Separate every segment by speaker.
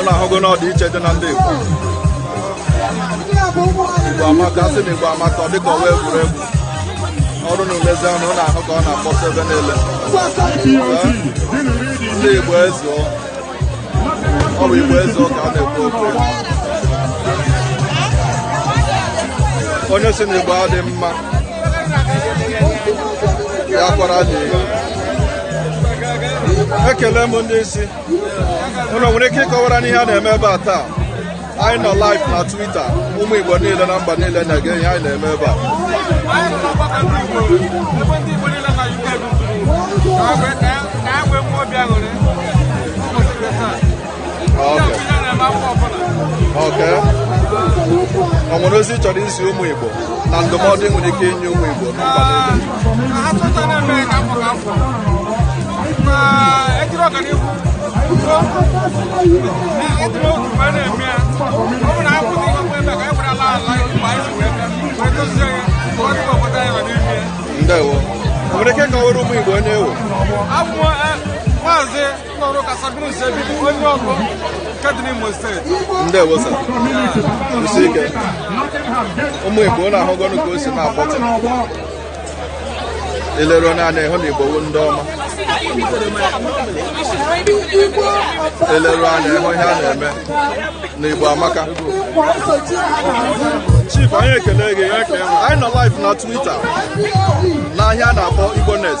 Speaker 1: unu ahụgo na ọdịiche dị na ndị Igbo Igbo amaka a sị na Igbo amaka ọ dịka ọ wụ egwuregwu ọrụ na umezi unu ahụ ka ọ na-akpọsa ebe niile ndị Igbo ezuo ọ bụ igwe eze ọka a na-ekwu okwu ya. onye sị na igbo adị mma ya kwara dị ekele m ndị isi unu nwere ike ịkọwara anyị ihe a na-eme ebe a taa anyị nọ live na Twitter ụmụ Igbo niile na mba niile na-ege ihe anyị na-eme ebe a Okay. ọ nwere ozi ị chọrọ izi ụmụ Igbo na ndụmọdụ ị nwere ike inye ụmụ Igbo na mba niile ndewo nwere ike ịkọrọ ụmụ igbo onye ị wụ ndewo sir isi ike ụmụ igbo unu ahụgonu ka o si na-akpọtụ i leru anya ị hụ na igbo wụ ndị ọma i leru anya ị hụ ihe a na-eme na igbo amaka chief anyị ekele gị anyị nọ live na twitter n'ihe a na-akpọ igbo net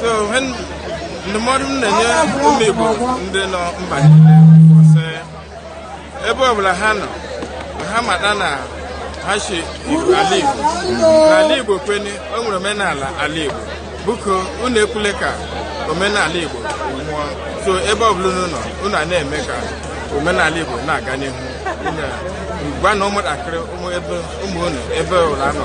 Speaker 1: so ihe n- ndụmọdụ m na-enye ụmụ igbo ndị nọ mba niile bụ sị, ebe ọbụla ha nọ ha mata na ha si igbo ala igbo n'ala igbo kwene o nwere omenala ala igbo biko unu ekwele ka omenala igbo nwụọ so ebe ọbụla unu nọ unu a na-eme ka omenala igbo na-aga n'ihu Unu a- gwa na ụmụntakịrị ụmụ ebe ụmụ unu ebe ọbụla ha nọ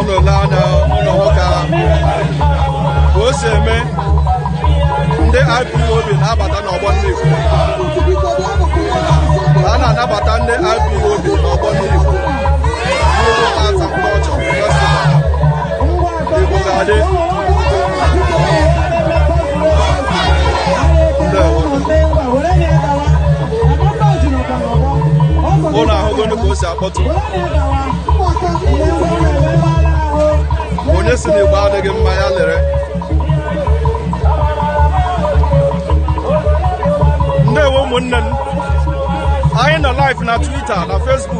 Speaker 1: unu lee nụ nwoke ahụ ka o si eme ndị IPOB na-abata n'ọgbọ mmiri a na-anabata ndị IPOB n'ọgbọ mmiri ụnụ ahụgonu ka o si akpọtụ onye sị na igbo adịghị mma ya lere ndewo ụmụnne m anyị nọ live na Twitter na Facebook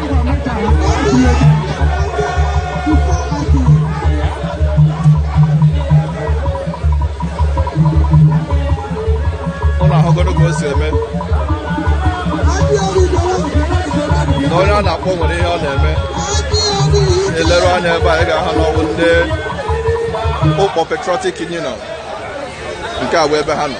Speaker 1: ụnụ ahụgoro ka o si eme na onye a na-akpọ nwere ihe ọ na-eme e leru anya ebe a ị ga-ahụ na ọ wụ ndị ụkpọ patriotic union nke a wụ ebe ha nọ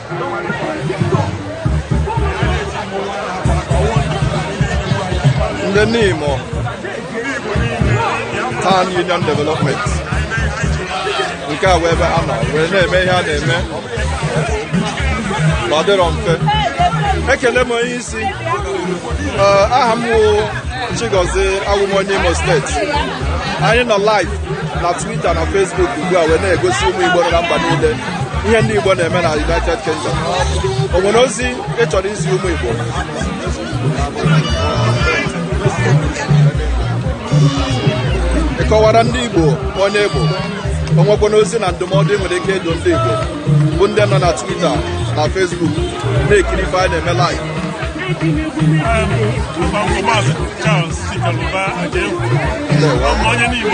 Speaker 1: ndị nimo town union development nke a wụ ebe ha nọ wee na-eme ihe a na-eme ma ọ dịrọ mfe ekene m onye isi Ee, aha m wụ chigozie awụ m onye imo steeti anyị nọ live na twitter na facebook ugbu a wee na-egosi ụmụ igbo nọ na mba niile ihe ndị Igbo na-eme na United Kingdom o nwere ozi ị chọrọ izi ụmụ Igbo ị kọwara ndị Igbo onye ị bụ o nwekwanụ ozi na ndụmọdụ i nwere ike ịdụ ndị Igbo bụ ndị nọ na Twitter na Facebook na-ekiri ife anyị na-eme live onye niile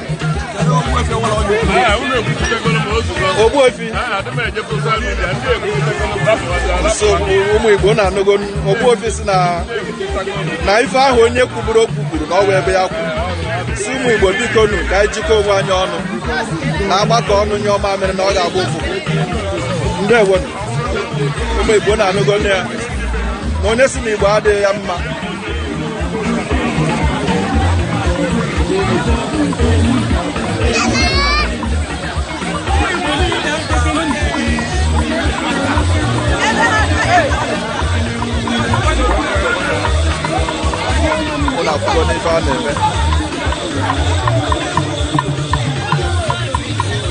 Speaker 1: Ogbuefi ụmụ Igbo ụnụ anụgo Ogbuefi sị na na ife ahụ onye kwuburu okwu kwuru na ọ wụ ebe ya kwụ sị ụmụ Igbo bikonu ka anyị jikọọ onwe anyị ọnụ na a gbakọọ ọnụ nyụọ mamịrị na ọ ga-agba ụfụfụ ndewo ụmụ Igbo ụnụ anụgonu ya na onye sị na Igbo adịghị ya mma ụnụ ahụgonu ife a na-eme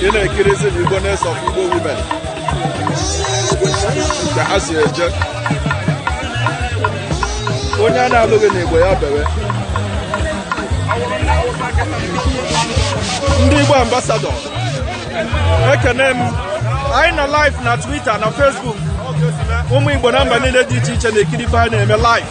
Speaker 1: ị na-ekirizi na igbo na-eso igbo women ka ha si eje onye a na-alụghị n'igbo ya bewe ndị igbo ambasadọ ekene m anyị nọ live na twitter na facebook ụmụ igbo na mba niile dị iche iche na-ekiri ife anyị na-eme live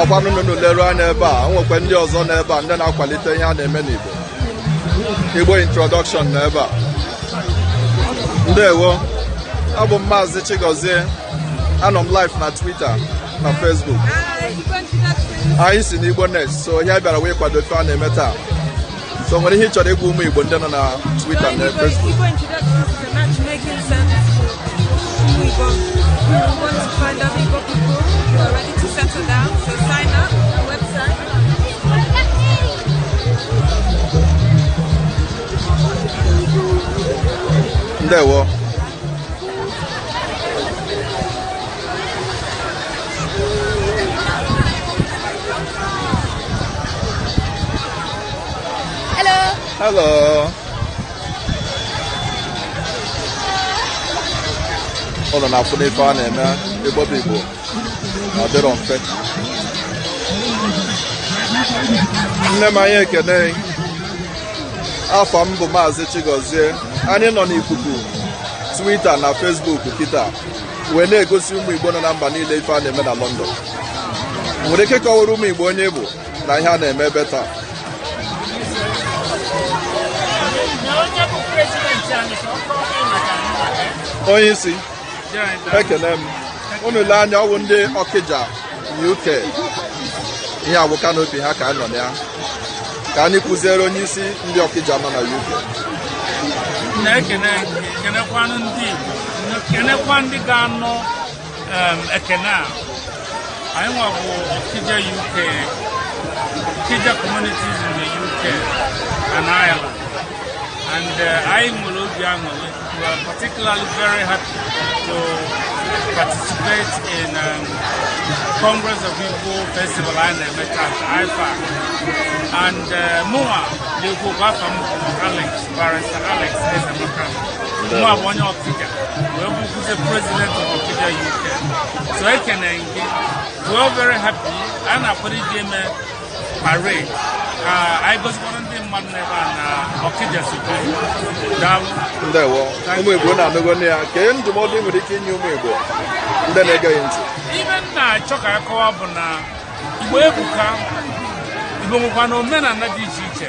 Speaker 1: ọkwa n'ụnụ leruo anya ebe a nwekwa ndị ọzọ n'ebe a ndị na-akwalite ihe a na-eme n'Igbo Igbo introduction na ebe a ndewo abụ m maazị Chigozie anọ m live na Twitter na Facebook anyị si n'Igbo Next so ihe a bịara wee kwado ife a na-eme taa so o nwere ihe ị chọrọ ịgwa ụmụ Igbo ndị nọ na Twitter na Facebook ndewo Hello. ụnụ na-afụ n'ife a na-eme igbo bụ igbo na ọ dịrọ mfe nne m anyị ekene afa m bụ maazị Chigozie anyị nọ n'ikuku twita na fesbuk kịta wee na-egosi ụmụ igbo nọ na mba niile ife a na-eme na London i nwere ike kọwara ụmụ igbo onye ị bụ na ihe a na-eme ebe a taa onye isi ekene m unu lee anya ọ wụ ndị ọkịja uk ihe a wụ kanopi ha ka anyị nọ na ya ka anyị kụziere onye isi ndị ọkịja nọ na uk na-ekene kenekwanụ ndị Igbo kenekwa ndị ga-anọ um, ekene a anyị nwa bụ Okija UK Okija communities in the UK and Ireland and uh, anyị nwere obi aṅụrị we are particularly very happy to participate in um, Congress of Igbo Festival a na-eme taa IFAC and uh, mụnwa na-ekwu okwu afa m bụ Alex Barrister Alex Ezeamaka nwa bụ onye Okija wee bụkwuzie president of Okija UK so ekene gị we are very happy a na-akwado iji eme parade ka anyị gosikwara ndị mmadụ n'ebe a na Okija si bụrụ daalụ ndewo ụmụ igbo ụnụ anụgonụ ya kee ndụmọdụ ị nwere ike inye ụmụ igbo ndị na-ege ya ntị ife m na-achọ ka anyị kọwa bụ na igbo ebuka igbo nwekwara omenala dị iche iche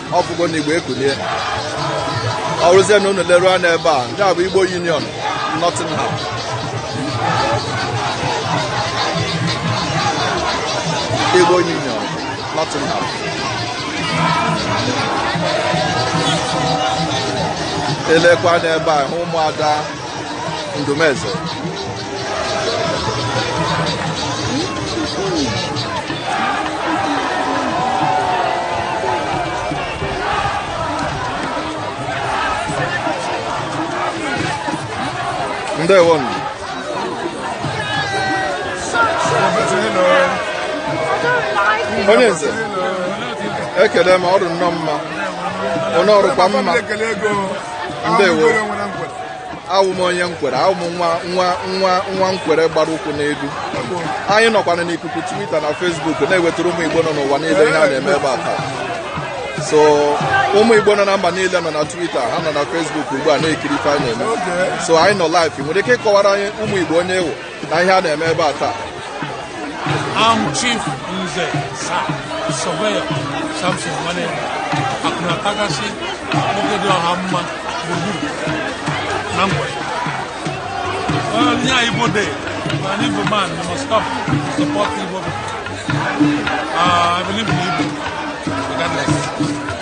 Speaker 1: ọ fụgo na igbo ekulie ọ rụzie na unu leruo anya ebe a ndị a bụ igbo union nottingham igbo union nottingham e lekwa anya ebe a hụ ụmụada ndụmeze ndewonu onye nze ekele m ọ dị nnọọ mma onye ọ dịkwa mma ndewo awụ m onye nkwere awụ m nwa nkwere gbara ụkwụ n'elu anyị nọkwana n'ikuku Twitter na Facebook na-ewetara ụmụ Igbo nọ n'ụwa niile ihe a na-eme ebe a taa so ụmụ Igbo nọ na mba niile nọ na Twitter ha nọ na Facebook ugbu a na-ekiri ife anyị na-eme so anyị nọ live nwere ike ịkọwara anyị ụmụ Igbo onye ị wụ na ihe a na-eme ebe a taa I'm Chief Nze Sir Surveyor Samson Nwane Akunatakasi nwoke dị ọha mma gburugburu na Nkwere anyị Igbo Day na an Igbo man you must stop to support Igbo people. Uh, I believe in Igbo regardless.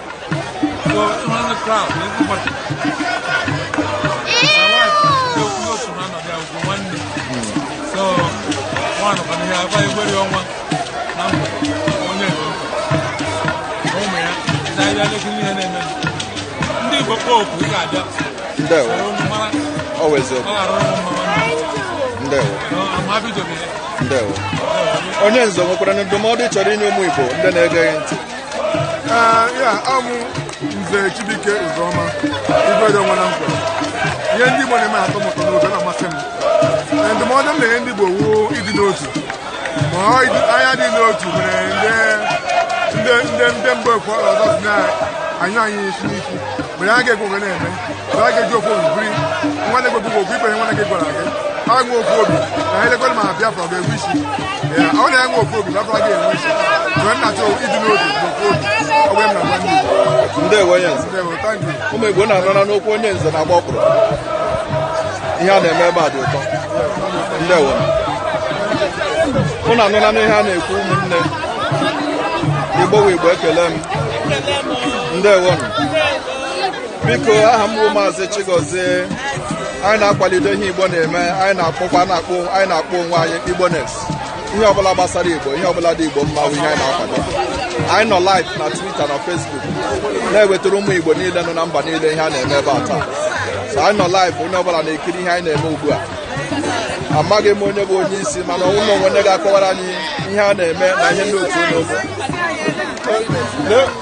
Speaker 1: onye nze nwekwara ndụmọdụ chọrọ inye ụmụ Igbo ndị na-ege ntị Ee, ya awụ m nze Chibuike Uzoma igwe dị nwa na nkwa ihe ndị Igbo na-eme atọ m ụtọ n'oge na-amasị m Ee, ndụmọdụ m na-enye ndị Igbo wụ ịdị n'otu ma ọ ịdị- anyị dị n'otu mere ndị ndị ndị ndị mgbe ekwe ọzọ si na anyụ anyị isi n'isi mgbe ha ga-ekwe oge na-eme na a ga-eji ofu obi biri nwa na-egwe bụkwa okwu ikpe ihe nwa na-egwe gwara gị ha nwe ofu obi na ha elekwere ma Biafra ọ ga-enwe isi Ya, ọ na ya nwe ofu obi Biafra ga-enwe isi mgbe m na-achọ ịdị n'otu na ofu obi ọ bụ ya m na-agwa ndị Igbo ndewo onye nze Ndewo, thank you. ụmụ igbo na-anara n'okwu onye nze na-agba ọkpụrụ ihe a na-eme ebe a dị ụtọ ndewo unu anụla ihe a na-ekwu ụmụnne igbo wụ igbo ekele m ndewo biko aha m bụ maazị Chigozie anyị na-akwalite ihe Igbo na-eme anyị na-akpọkwa na-akpọ anyị na-akpọ onwe anyị Igboness ihe ọbụla gbasara Igbo ihe ọbụla dị Igbo mma bụ ihe anyị na-akwado anyị nọ live na Twitter na Facebook na-ewetara ụmụ Igbo niile nọ na mba niile ihe a na-eme ebe a taa so anyị nọ live onye ọbụla na-ekiri ihe anyị na-eme ugbu a amaghị m onye bụ onye isi mana o nwee onye ga-akọwara anyị ihe a na-eme na ihe ndị otu unu bụ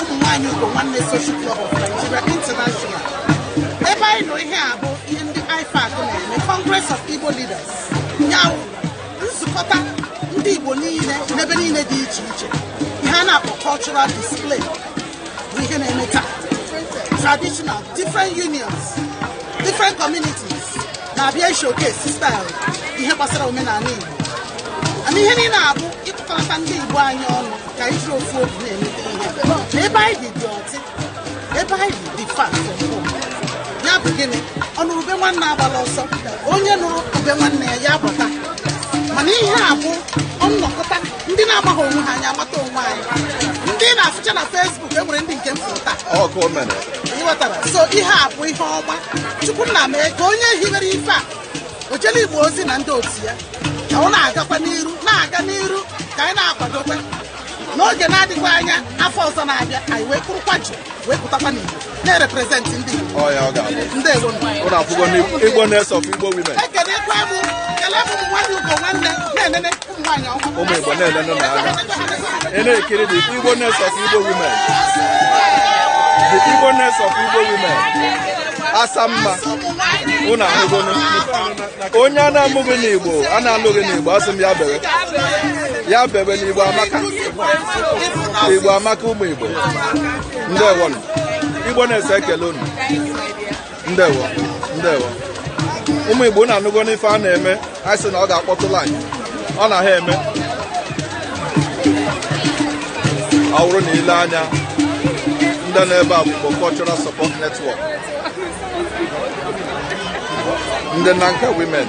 Speaker 1: ụmụ nwaanyị Ugo Nwanne Social Club of Nigeria International ebe anyị nọ ihe a bụ ihe ndị IFAC na-eme Congress of Igbo Leaders ya wụ nzukọta ndị Igbo niile n'ebe niile dị iche iche ihe a na-akpọ cultural display bụ ihe na-eme taa traditional different unions different communities na-abịa showcase style ihe gbasara omenala Igbo and ihe niile a bụ ịkpọkọta ndị Igbo anyị ọnụ ka anyị ji ofu ofu na-emete ihe ebe anyị dị dị ọtị ebe anyị dị dị fa ya bụ gịnị ọ nụrụ ube nwanne agbala ọsọ onye nụrụ ube nwanne ya ya bata mana ihe a bụ nnọkọta ndị na-amaghị onwe ha anyị amata onwe anyị ndị na-afụcha na Facebook e nwere ndị nke m fụrụ taa ịghọtara so ihe a bụ ihe ọma chukwu nna mee ka onye hiwere ife a ojelu igbo ozi na ndị otu ya ka ọ na-agakwa n'iru na-aga n'iru ka anyị na-akwadokwa n'oge na-adịghị anya afọ ọzọ na-abịa anyị wee kwụrụkwa jụ wee pụtakwa n'iro na-represent ndị igbo Ọ ya ọ ga-abụ. ndị igbo Ụlọ akwụkwọ n'Igbo Igboness of Igbo Women. ekelekwa m kelee m nwanne ugo nwanne na-enene ụmụ igbo na-elenụ anya ị na-ekiri the Igboness of igbo women the Igboness of igbo women asa mma unu ahụgonu onye a na-amụghị n'igbo a na-alụghị n'igbo asị m ya bee ya bee na igbo amaka igbo amaka ụmụ igbo ndewonụ Igboness ekelee unu ndewo ndewo ụmụ igbo na-anụgo n'ife a na-eme anyị sị na ọ ga-akpọtụ live ọ na ha eme ọ bụrụ na i lee anya ndị nọ ebe a bụ Igbo Cultural Support Network ndị Nanka Women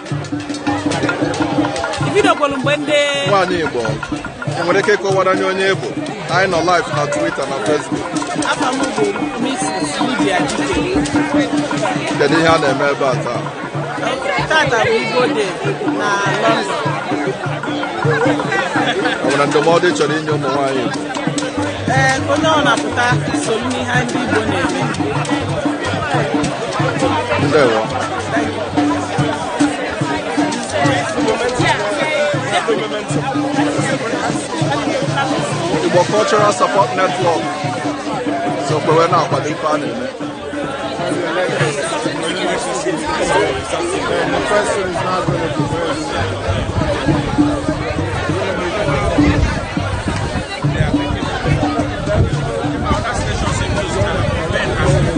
Speaker 1: ibidokwolu mgbe ndị nwaanyị igbo i nwere ike ịkọwara anyị onye ị bụ anyị nọ live na twitter na facebook afa m bụ Mrs. Lydia Chikere kedu ihe a na-eme ebe a taa tata bụ Igbo Day na London o nwere ndụmọdụ ị chọrọ inye ụmụ nwaanyị igbo ee onye ọbụna pụta so n'ihe ndị Igbo na-eme ndewo Igbo Cultural Support Network sokwa wee na-akwado ife a na-eme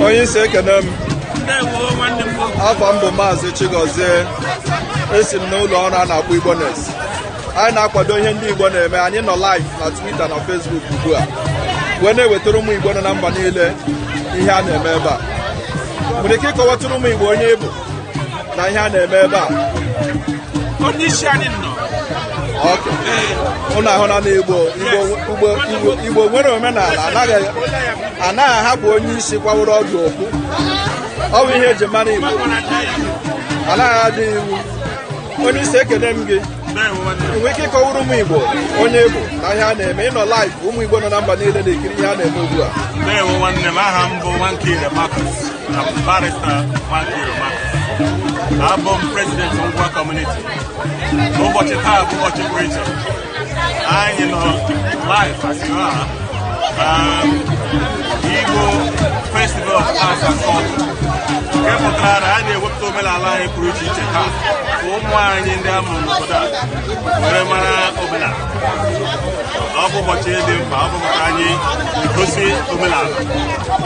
Speaker 1: onye isi ekene m afa m bụ maazị Chigozie esi m n'ụlọ ọrụ a na-akpọ Igbo News anyị na-akwado ihe ndị Igbo na-eme anyị nọ live na Twitter na Facebook ugbu a wee na-ewetara ụmụ Igbo nọ na mba niile ihe a na-eme ebe a nwere ike ịkọwatụrụ ụmụ Igbo onye ị bụ na ihe a na-eme ebe a onye isi anyị nnọọ ụnụ ahụna n'igbo igbo nwere omenala anaghị ahapụ onye isi kwaworo ọdụ okwu ọ bụ ihe eji mara igbo anaghị adị iwu onye isi ekene m gị ị nwere ike ịkọwara ụmụ igbo onye ị bụ na ihe a na-eme ị nọ live ụmụ igbo nọ na mba niile na-ekiri ihe a na-eme ugbu a abụ m president Ngwa community ụbọchị taa bụ ụbọchị pụrụ iche anyị nọ live as you are um, Igbo festival of arts and culture nke pụtara na a na-ewepụta omenala anyị pụrụ iche iche taa ka ụmụ anyị ndị a mụrụ n'obodo a were mara omenala ọ bụ ụbọchị dị mkpa ọ bụ maka anyị egosi omenala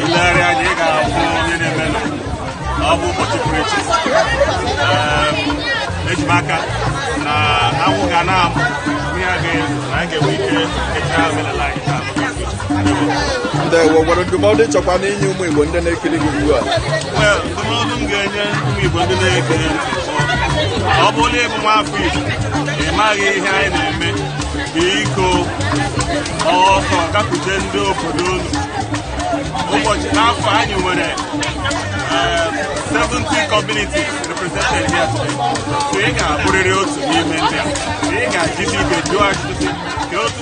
Speaker 1: i legharịa anya ị ga-ahụ onye na-eme na ọ bụ ụbọchị pụrụ iche eji m aka na anwụ ga na-amụ ihe a ga na anyị ga-enwe ike kechaa omenala anyị taa ndewo nwere ndụmọdụ ị chọrọ inye ụmụ Igbo ndị na-ekiri gị ugbu a ndụmọdụ m ga-enye ụmụ Igbo ndị na-ege ọ bụrụ na ị bụ nwafọ Igbo ị maghị ihe anyị na-eme biko ọsọ gakwute ndị obodo unu ụbọchị n'afọ anyị nwere 70 communities represented here today so ị ga-abụrịrị otu n'ime ndị a ị ga-ajisi ike jụọ ajụjụ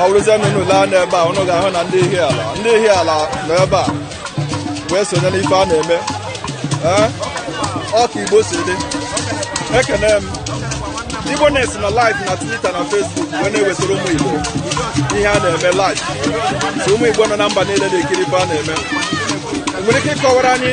Speaker 1: ọ bụrụzie na unu lee anya n'ebe a unu ga-ahụ na ndị Ihiala ndị Ihiala nọ ebe a wee sonye n'ife a na-eme Ee, ọ ka igbo si dị ekene m Igbo News nọ live na twitter na facebook wee na-ewetara ụmụ igbo ihe a na-eme live so ụmụ igbo nọ na mba niile na-ekiri ife a na-eme nwere ike ịkọwara anyị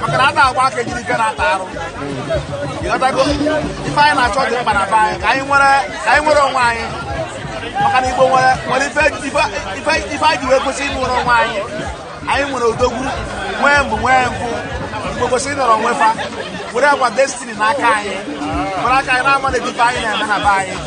Speaker 1: maka na a na-agba aka ejiri ike na-ata arụ ị ghọtago ife anyị na-achọ dị mkpa na be anyị ka anyị nwere ka anyị nwere onwe anyị maka na igbo nwere nwere ife ife- ife ife anyị ji wee kwesị inwere onwe anyị anyị nwere odogwu nwee mbọ nwee mbọ igbo kwesị ịnọrọ onwe fa were our destiny n'aka anyị were aka anyị na-manage ife anyị na-eme na be anyị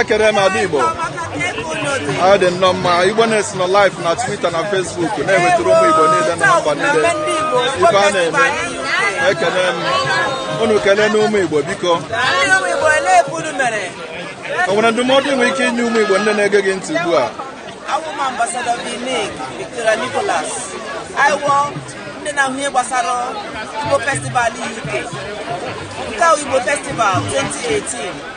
Speaker 1: ekene m ada igbo ọ dị nnọọ mma igbo nation nọ live na twitter na facebook na-ewetara ụmụ igbo niile na mba niile ife a na-eme ekene m unu kelee na ụmụ igbo biko o nwere ndụmọdụ ị nwere ike inye ụmụ igbo ndị na-ege gị ntị ugbu a awụ m ambassador Nicholas anyị wụ ndị na-ahụ ihe gbasara Igbo festival UK nke wụ Igbo festival 2018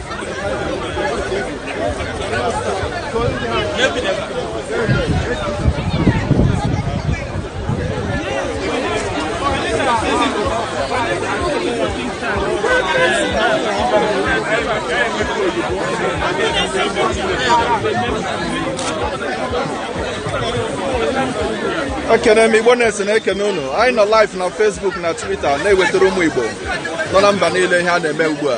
Speaker 1: ekene m igbo nation na-ekene unu anyị nọ live na Facebook na Twitter na-ewetara ụmụ igbo nọ na mba niile ihe a na-eme ugbu a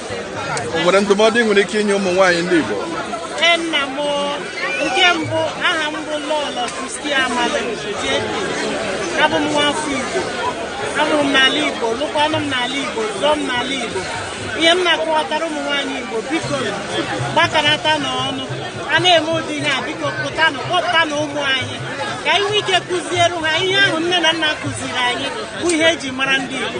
Speaker 1: O nwere ndụmọdụ ị nwere ike inye ụmụ nwaanyị ndị Igbo? Ee, nna m nke mbụ aha m bụ Lọlọ Christy Amala JP abụ m nwa afọ Igbo amụrụ m n'ala Igbo lụkwanụ m n'ala Igbo zụọ m n'ala Igbo ihe m na-akọwatara ụmụ nwaanyị Igbo biko gbakọtanụ ọnụ a na-eme ụdị ihe a biko pụtanụ kpọpụtanụ ụmụ anyị ka anyị nwee ike kụziere ha ihe ahụ nne na nna kụziri anyị bụ ihe eji mara ndị Igbo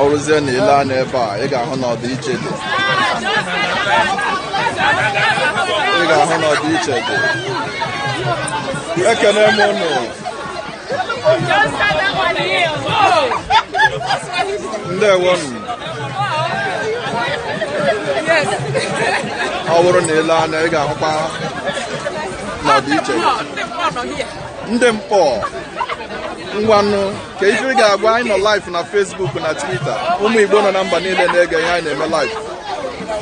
Speaker 1: ọ rụzie na i lee anya ebe a ị ga-ahụ na ọdịiche dị ị ga-ahụ na ọdịiche dị ekene m ụnụ ọ bụrụ na i lee anya ị ga-ahụkwa n'ọdịiche ndị mkpọ ngwanụ kee ife ị ga-agwa anyị nọ live na Facebook na Twitter ụmụ Igbo nọ na mba niile na-ege ihe anyị na-eme live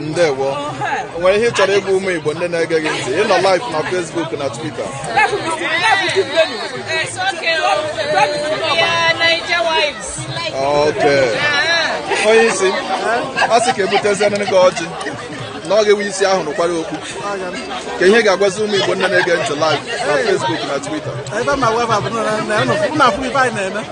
Speaker 1: ndewo o nwere ihe ị chọrọ ịgwa ụmụ igbo ndị na-ege gị ntị ị nọ live na Facebook na Twitter okay onye isi a sị ka ebutezienụ gị ọjị na ọ ga-ewe isi ahụ rụkwara okpu kee ihe ị ga-agwazi ụmụ igbo ndị na-ege ntị live na Facebook na Twitter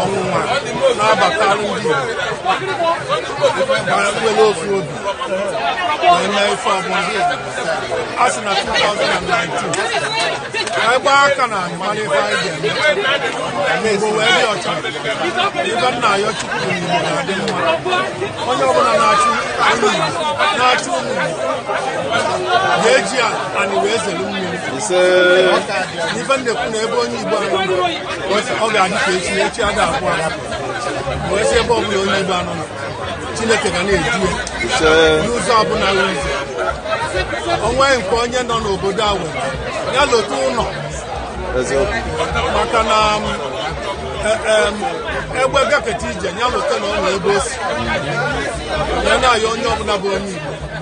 Speaker 1: ọnwụnwa na-abata ndị igbo nwere ofu obi wee mee ife ọbụla a sị na 2019 anyị gbaa aka na anyị mara ife anyị ga-eme igbo wee dị ọcha ife m na-ayọ chukwu bụ igbo na-adị mma onye ọbụla na-achụ ụmụ igbo na-achụ ụmụ igbo ga-eji anị wee zere mmiri ife m na-ekwu na ebe onye igbo anyị ọ ga-adị ka echi echi ada agwụ agwụ wee sị ebe ọbụla onye Igbo nọ Chineke ga na-edu ya n'ụzọ ọbụla nwere ụzọ onwe nke onye nọ n'obodo a were ya lota ụlọ maka na um, e, um, egbe gaketa ije ya lota na ọ na ebe o si ya na-ayọ onye ọbụla bụ onye Igbo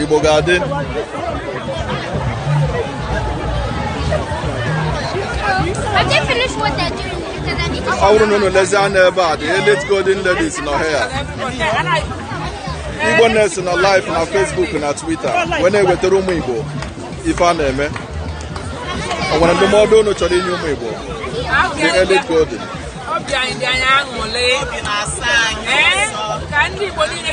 Speaker 1: Igbo ga-adị ọ bụrụ na unu lezie anya ebe a the elite golden ladies nọ ya igbo na-esi na live na facebook na twitter wee na-ewetara ụmụ igbo ife a na-eme ọ nwere ndụmọdụ unu chọrọ inye ụmụ igbo the elite golden obi anyị dị anyị aṅụlị ka ndị igbo niile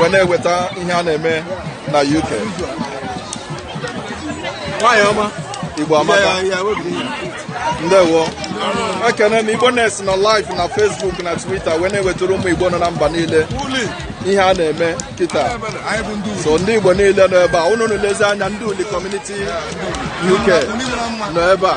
Speaker 1: wee na-eweta ihe a na-eme na UK nwanyị ọma Igbo amaka ndewo ekene m Igbo na-esi na live na Facebook na Twitter wee na-ewetara ụmụ Igbo nọ na mba niile ihe a na-eme kịta so ndị Igbo niile nọ ebe a unu lezie anya ndị uli community UK nọ ebe a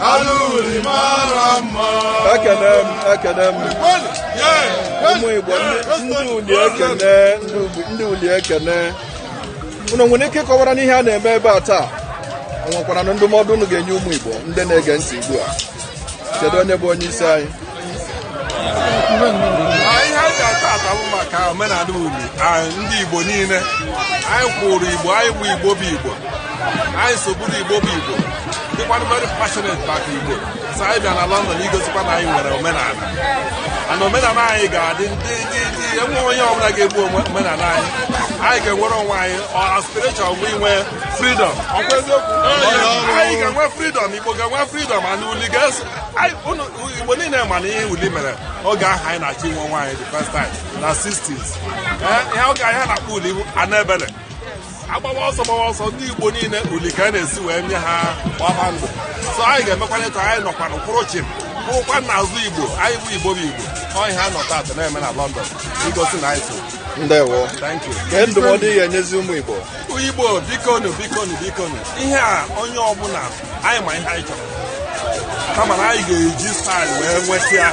Speaker 1: Ala uli mara mma. ekene m ekene m ụmụ igbo ndị- ndị uli ekene ndị uli- ndị uli ekene unu nwere ike ịkọwara anyị ihe a na-eme ebe a taa ọ nwekwaranụ ndụmọdụ unu ga-enye ụmụ igbo ndị na-ege ntị ugbu a kedu onye bụ onye isi anyị ihe a ji ata ata bụ maka omenala uli ndị Igbo niile anyị kwụrụ Igbo anyị bụ Igbo bụ Igbo anyị sogburu Igbo bụ Igbo dịkwanụ very passionate maka Igbo so anyị bịa na London igosikwa na anyị nwere omenala na omenala anyị ga-adị ndụ dị dị enwe onye ọbụla ga-egbu omenala anyị anyị ga-enwere onwe anyị aspiration bụ inwe freedom ọkwa eziokwu anyị ga-enwe freedom Igbo ga-enwe freedom ana uli ga-eso Igbo niile ma na ihe uli mere oge ahụ anyị na-achọ inwe onwe anyị the first time na 60s ihe oge anyị na-akpọ uli bụ Annabelle agbawa ọsọ gbawa ọsọ ndị Igbo niile uli ka a na-esi wee nye ha gbaba ndụ so anyị ga-emekwana etu anyị nọkwanụ kwụrụ chịm kwụrụkwa na azụ Igbo anyị bụ Igbo bụ Igbo ọ ihe a ha nọ taata na-eme na London igosi na anyị so ndewo kedu ndụmọdụ ị ga-enyezi ụmụ Igbo Igbo bikonu bikonu bikonu ihe a onye ọbụla anyị ma ihe anyị chọrọ kama na anyị ga-eji style wee nweta ya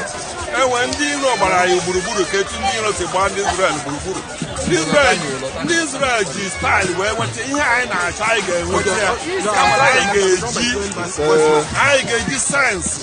Speaker 1: enwe ndị iro gbara anyị gburugburu ka etu ndị iro si gbaa ndị Izrel gburugburu ndị Izrel ndị Izrel ji style wee nweta ihe anyị na-achọ anyị ga-enweta ya kama na anyị ga-eji anyị ga-eji science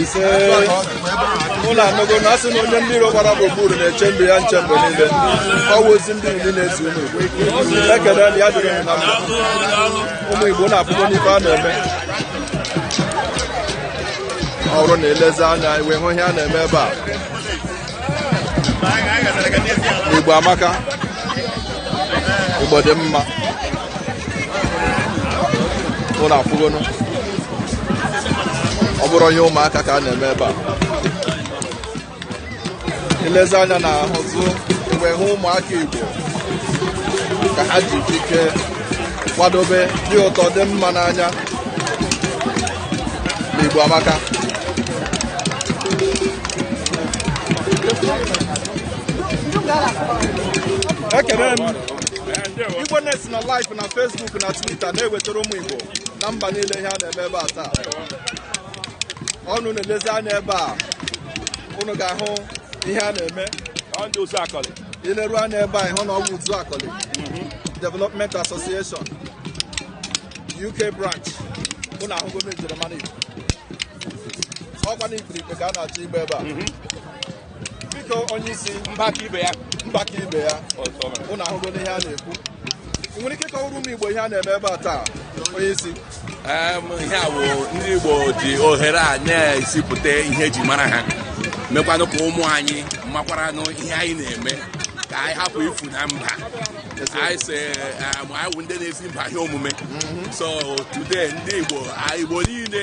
Speaker 1: isee unu anụgo na a sị na onye ndị iro gbara gburugburu na-eche ndụ ya nche mgbe niile ọ wụ ozi ndị iri na-ezi unu ekele na ya dịrị unu na mma ụmụ igbo unu afụgo n'ife a na-eme ọ bụrụ na i lezie anya i wee hụ ihe a na-eme ebe a igbo amaka igbo dị mma unu afụgonụ ọ bụrụ ihe ụmụaka ka a na-eme ebe a i lezie anya na ahụzụ wee hụ ụmụaka Igbo ka ha ji ekike kwadobe dị ụtọ dị mma n'anya na Igbo amaka ekele m Igbo Next nọ live na Facebook na Twitter na-ewetara ụmụ Igbo na mba niile ihe a na-eme ebe a taa ụnụ na-elezi anya ebe a ụnụ ga-ahụ ihe a na-eme i leru anya ebe a ị hụ na ọ bụ uzuakoli mhm. development association uk branch ụnụ ahụgo na njirimara igbo ọ kwa na ikpirikpe ka a na-achọ ịgba ebe a mhm. biko onye isi mbaka ibe ya mbaka ibe ya ụnụ ahụgo n'ihe a na-ekwu ị nwere ike kọwara ụmụ igbo ihe a na-eme ebe a taa onye isi ihe a bụ ndị igbo ji ohere a na-ezipụta ihe e ji mara ha mekwanụ ka ụmụ anyị makwaranụ ihe anyị na-eme ka anyị hapụ ifu na mba anyị si anyị wụ ndị na-ezi mba ihe omume so today ndị igbo igbo niile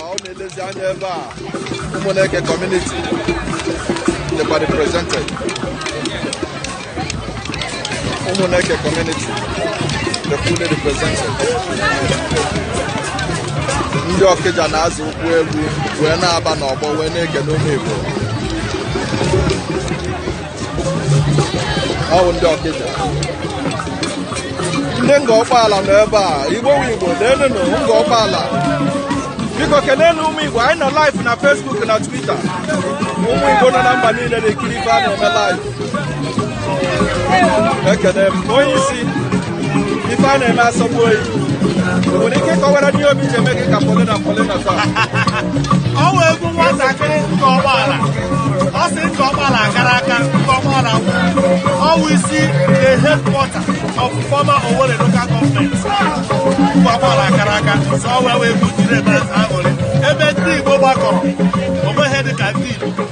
Speaker 1: ụnụ na-elezi anya ebe a ụmụneke community dịkwa represented ụmụneke community dị fully represented ndị ọkịja na-azọ ụkwụ egwu wee na-aba n'ọgbọ wee na-ekele ụmụ igbo ọ bụ ndị ọkịja ndị ngor okpala nọ ebe a igbo wu igbo leenụnụ ngor okpala biko kenenu ụmụ igbo anyị nọ live na facebook na twitter ụmụ igbo nọ na mba niile na-ekiri ife a na-eme live ekene m onye isi ife a na-eme asọgbu o ị nwere ike kọwara anyị obi ji eme gị ka polina polina taa ọ wụ egwu nwatakịrị Ngor Okpala a sị Ngor Okpala kara aka Ngor Okpala ọ wụ isi the headquarter of former Owerri local government Ngor Okpala kara aka so ọ wee wee egwu jiri ebe aṅụrị ebe ndị Igbo gbakọrọ o nweghị ihe dị ka ndị Igbo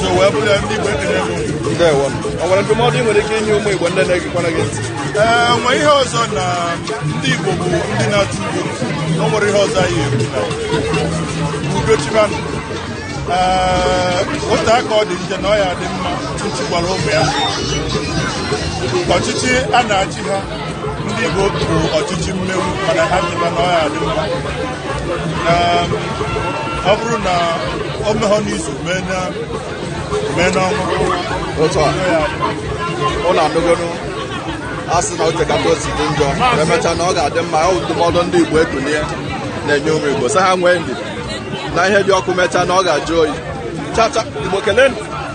Speaker 1: so wee bụrụ ya ndị Igbo ekenee gị ukwuu. ndewo o nwere ndụmọdụ ị nwere ike inye ụmụ igbo ndị na-egekwana gị ntị ee nwe ihe ọzọ na ndị Igbo bụ ndị na-achọ udo o nwere ihe ọzọ anyị ekwu na udo chịbanụ ee ọ taa ka ọ dị njọ na ọ ya-adị mma Chukwu gwara ụmụ ya ọchịchị a na-achị ha ndị Igbo bụ ọchịchị mmegbu mana ha chịba na ọ ya-adị mma ọ bụrụ na o meghọ n'izu mee na mee n'ọnwa otu a ọ na-adụgoro a sị na oche ka ka o si dị njọ emechaa na ọ ga-adị mma ọ bụ ndụmọdụ ndị Igbo Ekunie na-enye ụmụ Igbo sị ha nwee ndidi na ihe dị ọkụ emechaa na ọ ga-ajụ oyi chacha Igbo kelenụ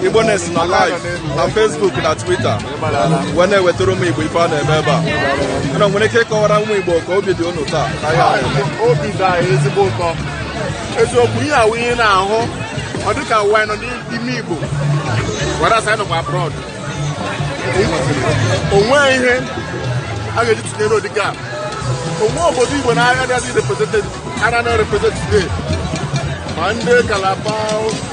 Speaker 1: Igboness nọ live na Facebook na Twitter wee na-ewetara ụmụ Igbo ife a na-eme ebe a unu nwere ike ịkọwara ụmụ Igbo ka obi dị unu taa obi dị anyị ezigbo ụtọ eziokwu ihe a wụ ihe na-ahụ ọ dịka ọ wụ a nọ n'ime Igbo whereas a nọkwa abroad o nweghị ihe a ga-eji tụnyere ụdị gap o nweghị obodo Igbo na-agaghị represented are not represented today ma ndị Calabar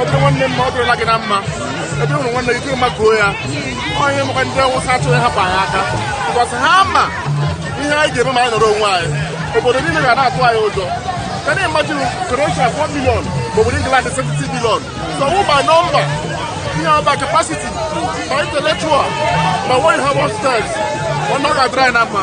Speaker 1: ọ dịrị nwanne mma ọ dịrịla gị na mma ebe ị hụrụ nwanne gị makuo ya ọ ya mere ndị Awụsa achọghị ịhapụ anyị aka because ha ma ihe anyị ga-eme ma anyị nọrọ onwe anyị obodo niile ga na-atụ anyị ụjọ can you imagine Croatia 4 million maọbụ England 70 million so ọ wụghị by number it's by capacity ma intellectual ma anyị wụ hustlers na ọ ga-adịrị anyị na mma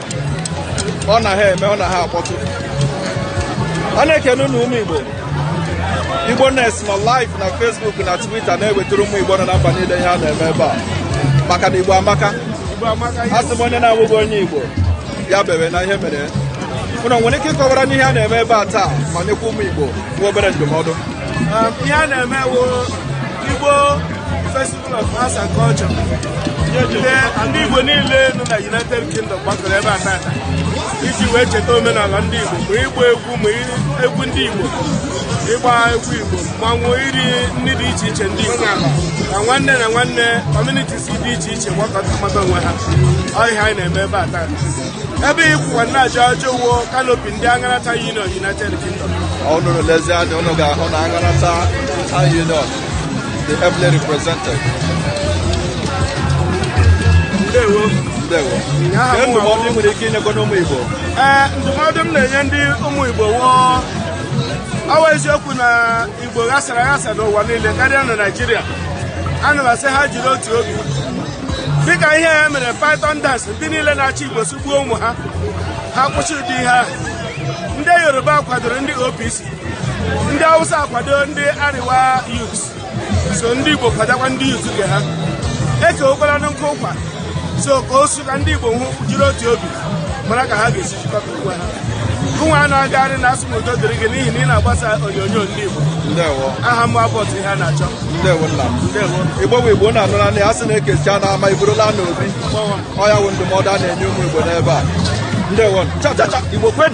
Speaker 1: ọ na ha eme ọ na ha akpọtụ a na-ekene unu ụmụ Igbo Igboness nọ live na Facebook na Twitter na-ewetara ụmụ Igbo nọ na mba niile ihe a na-eme ebe a maka na Igbo amaka a sị m onye na-abụghị onye Igbo ya bewe na ihe mere unu nwere ike ịkọwara anyị ihe a na-eme ebe a taa ma nyekwa ụmụ Igbo nwa obere ndụmọdụ um, ihe a na-eme Igbo Arts and Culture ndị Igbo niile nọ na United Kingdom gbakọrọ ebe a tata iji wee cheta omenala ndị Igbo ma ịgba egwu ma egwu ndị Igbo ịgba egwu Igbo mmanwụ iri nri dị iche iche ndị Igbo na nwanne na nwanne communities dị iche iche gbakọta mata onwe ha ọ ihe anyị na-eme ebe a tata ebe ị kwụwa na-ajụ ajụjụ wụ kanopi ndị Aṅara Town Union United Kingdom unu lezie anya unu ga-ahụ na Aṅara Town Union the ably represented. Ndewo. Ndewo. Ihe ndụmọdụ ị nwere ike inyekwanụ ụmụ Igbo? Ee, ndụmọdụ m na-enye ndị ụmụ Igbo wụ ọ wụ eziokwu na Igbo ghasara aghasa n'ụwa niile karịa na Naịjirịa. Ana m asị ha jiri otu obi. Dịka ihe ha mere Python dance ndị niile na-achị Igbo sị gbuo ụmụ ha ha kwụsị ụdị ihe ahụ. Ndị Yoruba kwadoro ndị OPC ndị Hausa akwado ndị Arewa youth so ndị Igbo kwadokwa ndị youth nke ha ekewokwala nkụ ụkwa so ka o su ka ndị Igbo hụ jiri otu obi mara ka ha ga-esi jikọta onwe ha ụnwa a na-agagharị na asị m udo dịrị gị n'ihi na ị na-agbasa onyonyo ndị Igbo ndewo aha m bụ Abbot Iheanachọ igbo bụ igbo unu anụna ya a sị na e kechaa n'ama e buru laa n'obi ọ ya wụ ndụmọdụ a na-enye ụmụ igbo n'ebe a ndewo igbo kwen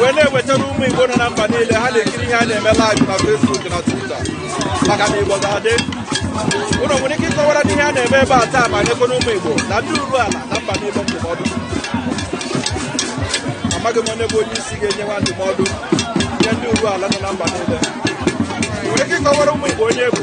Speaker 1: wee na-ewetara ụmụ Igbo nọ na mba niile ha na-ekiri ihe a na-eme live na Facebook na Twitter maka na Igbo ga-adị unu nwere ike ịkọwaranụ ihe a na-eme ebe a taa ma nyekwanụ ụmụ Igbo na ndị Uruala na mba niile ndụmọdụ amaghị m onye bụ onye isi ga-enye nwa ndụmọdụ nye ndị Uruala nọ na mba niile nwere ike ịkọwara ụmụ Igbo onye bụ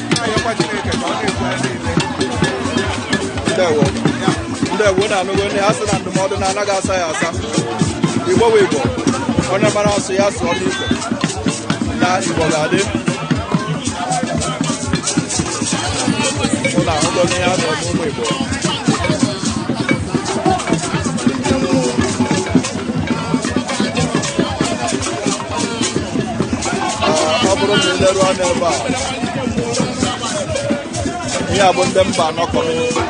Speaker 1: ndewo ndewo unu anụgonụ a sị na ndụmọdụ na anaghị asa ya asa igbo bụ igbo onye mara asụ ya sụọ n'igbo na igbo ga-adị unu ahụgonụ ihe a sọrọ n'ụmụ igbo ọ bụrụ na i leru anya ebe a ihe a bụ ndị Mbanọ community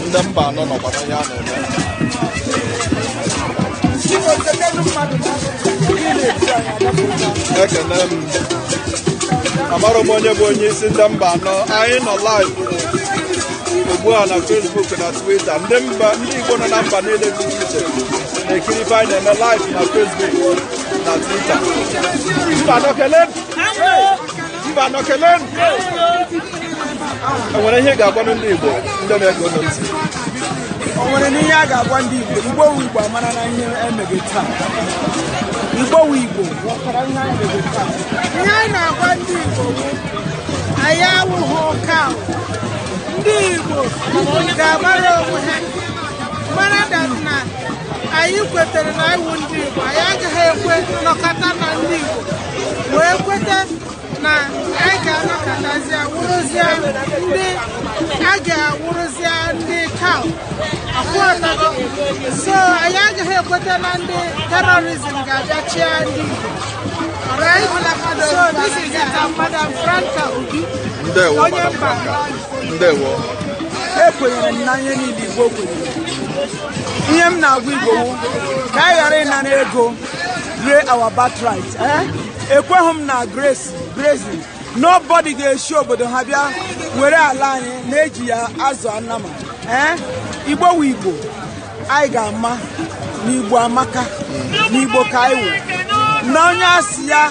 Speaker 1: ndị Mbanọ nọkwa na ihe a na-eme ekene m amara m onye bụ onye isi ndị Mbanọ anyị nọ live ugbu a na Facebook na Twitter ndị mba ndị Igbo nọ na mba niile dị iche iche na-ekiri ife anyị na-eme live na Facebook na Twitter Mbanọ kelenụ Mbanọ kelenụ e nwere ihe ị ga-agwanụ ndị Igbo ndị na-ege unu ntị o nwerenụ ihe a ga-agwa ndị Igbo Igbo wu Igbo amarana ihe e meghe taa Igbo wu Igbo ghọtara ihe anyị meghe taa ihe anyị na-agwa ndị Igbo bụ anyị awụghị ụka ahụ. ndị Igbo ga-agbara onwe ha mara that na anyị kwetere na anyị wụ ndị Igbo anyị agaghị ekwe nọkọta na ndị Igbo wee kweta na anyị ga-anọkọtazia wụrụzia ndị a ga-awụrụzia ndị kaw afụọtago so anyị agaghị ekweta na ndị terrorism ga-abịa chịa ndị Igbo Alright? So this is it, Madam Franca Obi, Ndewo, onye Madam mba Franca. ndewo ekwenyere m na ihe niile igbo kwenyere ihe m na-agwa igbo wụ ka anyị ghara ịnara ego ree our birthright eh? ekweghị m na grace grazing nobody ga-esi obodo ha bịa were ala anyị na-eji ya azụ anama eh? igbo wụ igbo anyị ga-ama na igbo amaka na igbo ka anyị wụ na onye asị ya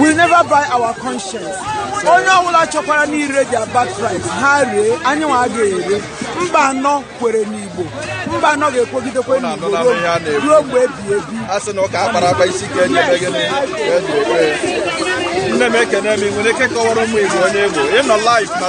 Speaker 1: will never buy our conscience onye ọbụla chọkwaranụ ire their birthright ha ree anyị nwa agaghị ere Mbanọ kwere n'igbo Mbanọ ga-ekwegidekwa n'igbo ruo mgbe ebi ebi a sị na ụka a kpara akpa isi ka e ji ekwe gịnị nne m ekenee m i nwere ike kọwara ụmụ igbo onye ị wụ ị nọ live na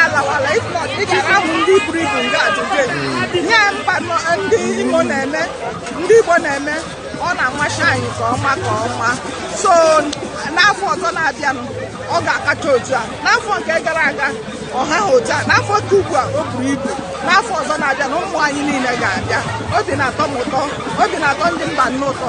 Speaker 1: alawala if not ị ga-ahụ ndị buru ibu nga ajụjụ nye Mbanọ ndị Imo na-eme ndị Igbo na-eme ọ na-amasị anyị nke ọma nke ọma so n'afọ ọzọ na-abịanụ ọ ga-akacha otu a n'afọ nke gara aga ọ haha otu a n'afọ nke ugbu a o buru ibu n'afọ ọzọ na-abịa na ụmụ anyị niile ga-abịa obi na-atọ m ụtọ obi na-atọ ndị Mbanọ ụtọ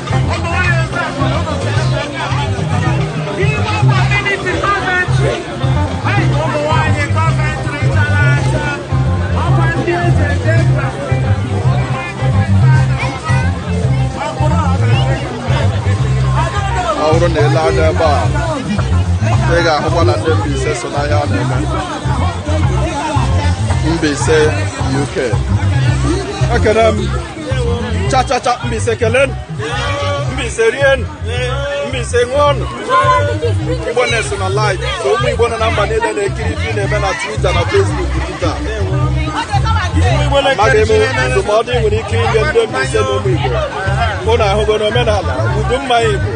Speaker 1: ọ bụrụ na i lee anya ebe a ị ga-ahụkwa na ndị Mbaise so n'ihe a na-eme Mbaise UK ekene m chachacha Mbaise kelenụ Mbaise rienụ Mbaise ṅụọnụ Igbo na-eso na live so ụmụ Igbo nọ na mba niile na-ekiri ife ị na-eme na Twitter na Facebook Twitter ma kedu ndụmọdụ i nwere ike inye ndị Mbaise na ụmụ Igbo ụnụ ahụgo na omenala udu mmanya Igbo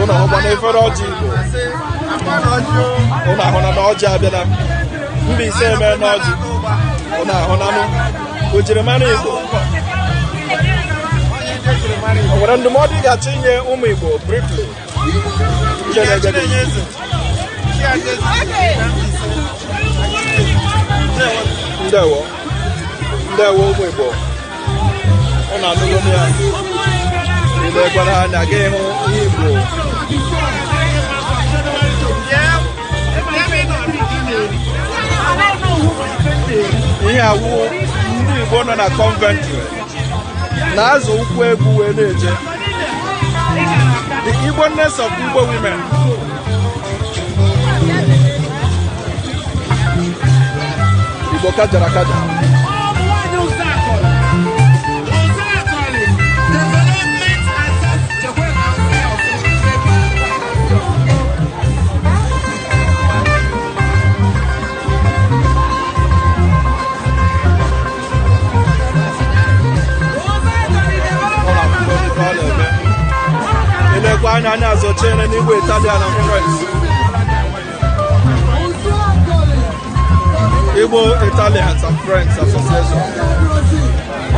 Speaker 1: ụnụ ahụkwa na efere ọjị Igbo ụnụ ahụna na ọjị abịala Mbaise emeena ọjị ụnụ ahụnanụ ojirimara Igbo o nwere ndụmọdụ ị ga-achọ inye ụmụ Igbo briefly ndewo ndewo ụmụ Igbo ọ na-anụgo m ya i lekwara anya gị hụ ihe Igbo ihe a wụ ndị Igbo nọ na Coventry na-azọ ụkwụ egwu wee na-eje the Igboness of Igbo women Igbo kajara kaja Ilekwa anya anya azọchiere n'igwe Italian and Friends. Igbo Italians and Friends Association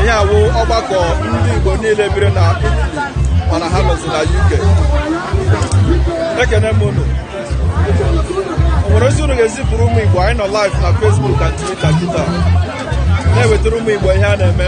Speaker 1: ihe a wụ ọgbakọ ndị Igbo niile biri na Italy mana ha nọzi na UK ekene m unu o nwere ozi unu ga-ezipụrụ ụmụ Igbo anyị nọ live na Facebook na Twitter kịta na-ewetara ụmụ Igbo ihe a na-eme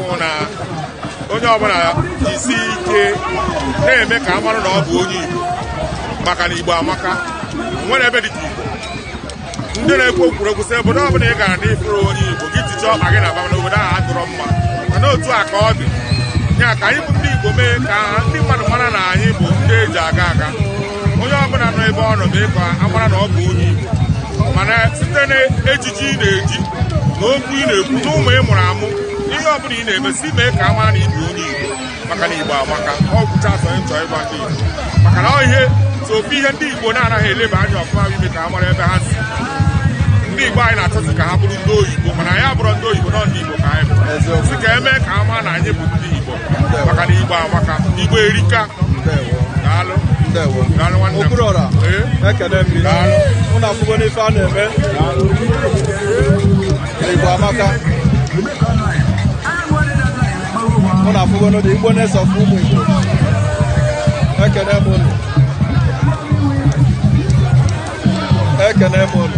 Speaker 1: na onye ọbụla jisi ike na-eme ka a mara na ọ bụ onye Igbo maka na Igbo amaka nwere ebe dịka Igbo ndị na-ekwu kwuru okwu sị obodo ọbụla ị gara na ị fụrọ onye Igbo gị tiche ọkpa gị naba na obodo ahụ adịrọ mma mana otu a ka ọ dị ya ka anyị bụ ndị Igbo mee ka ndị mmadụ mara na anyị bụ ndị eji aga aga onye ọbụla nọ ebe ọ nọ mee ka a mara na ọ bụ onye Igbo mana site na ejiji ị na-eji na okwu ị na-ekwu na ụmụ ị mụrụ amụ ihe ọ bụla ị na-eme si mee ka a mara na ị bụ onye Igbo maka na Igbo amaka ọ gwụcha asọ ịchọ ịgwa ndị Igbo maka na ọ ihe so ofu ihe ndị Igbo na-anaghị eleba anya ọfụma bụ ime ka a mara ebe ha si ndị Igbo anyị na-achọzi ka ha bụrụ ndị oyibo mana anyị abụrọ ndị oyibo no ndị Igbo ka anyị bụ Eziokwu. si ka e mee ka a mara na anyị bụ ndị Igbo maka na Igbo amaka Igbo erika ndewo daalụ ndewo daalụ nwanne m okpuru ọra Ee. ekene m gị Daalụ. unu afụgo n'ife a na-eme Igbo amaka unu afụgonu ndị Igbo na-esọfụ ụmụ Igbo ekene m unu ekene m unu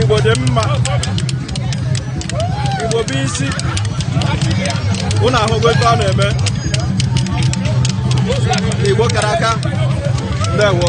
Speaker 1: Igbo dị mma Igbo bụ isi unu ahụgo ife a na-eme Igbo kara aka ndewo